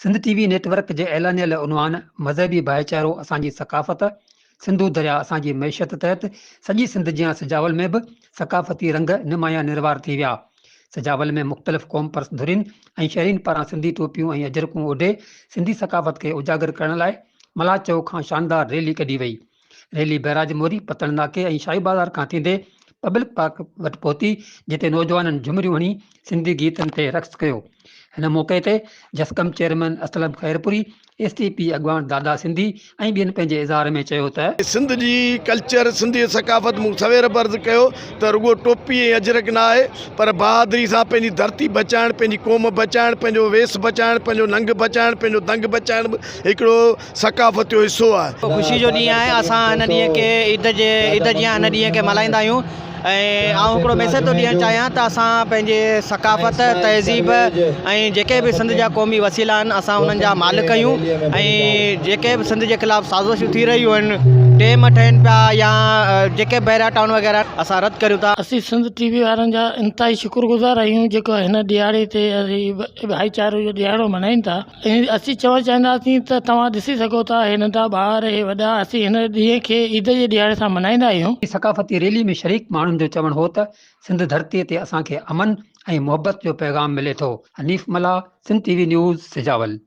Sindh T V network جي اعلانيل عنوان مذهبي ڀائيچارو اسان جي ثقافت، سنڌو درياء اسان جي معيشت تحت سڄي سنڌ جيان سجاول ۾ به ثقافتي رنگ نمايان نروار ٿي ويا. سجاول ۾ مختلف قومپرست ڌرين ۽ شهرين پاران سنڌي ٽوپيون ۽ اجرڪون اوڍي سنڌي ثقافت کي اجاگر ڪرڻ لاء ملاح چوڪ کان شاندار ريلي ڪڍي وئي. ريلي بئراج موري، پتڻ ناڪي ۽ شاهي بازار کان ٿيندي پبلڪ پارڪ وٽ پهتي، جتي نوجوانن جهمريون هڻي سنڌي گيتن تي رقص ڪيو. هن موقعي تي JSQM chairman Aslam Khairpuri, S T P اڳواڻ دادا سنڌي ۽ ٻين پنهنجي اظهار ۾ چيو ته. سنڌ جي ڪلچر، سنڌي ثقافت مون سوير به عرض ڪيو ته رڳو ٽوپي ۽ اجرڪ نه آهي پر بهادري سان پنهنجي ڌرتي بچائڻ، پنهنجي قوم بچائڻ، پنهنجو ويس بچائڻ، پنهنجو ننگ بچائڻ، پنهنجو دنگ بچائڻ به هڪڙو ثقافت جو حصو آهي. اهو خوشي جو ڏينهن آهي اسان هن ڏينهن کي عيد جي عيد جيان هن ڏينهن کي ملهائيندا آهيون ۽ آئون هڪڙو ميسيج ٿو ڏيڻ چاهيان ته اسان پنهنجي ثقافت تهذيب ۽ جيڪي به سنڌ جا قومي وسيلا آهن اسان انهن جا مالڪ آهيون ۽ جيڪي به سنڌ جي خلاف سازشون ٿي رهيون آهن ڊيم ٺهين پيا يا جيڪي به بحريا ٽائون وغيره آهن اسان رد ڪريون ٿا. اسين سنڌ ٽي وي وارن جا انتهائي شڪر گذار آهيون جيڪو هن ڏهاڙي تي ڀائيچاري جو ڏهاڙو ملهائين ٿا. ۽ اسين چوڻ چاهينداسين ته توهان ڏسي سگهو ٿا هي ننڍا ٻار هي وڏا اسين هن ڏينهن کي عيد جي ڏهاڙي سان ملهائيندا آهيون. انهي ثقافتي ريلي ۾ شريڪ ماڻهن جو چوڻ هو ته سنڌ ڌرتي تي اسان کي امن ۽ محبت جو پيغام ملي ٿو. Hanif Mallah Sindh T V news Sujawal.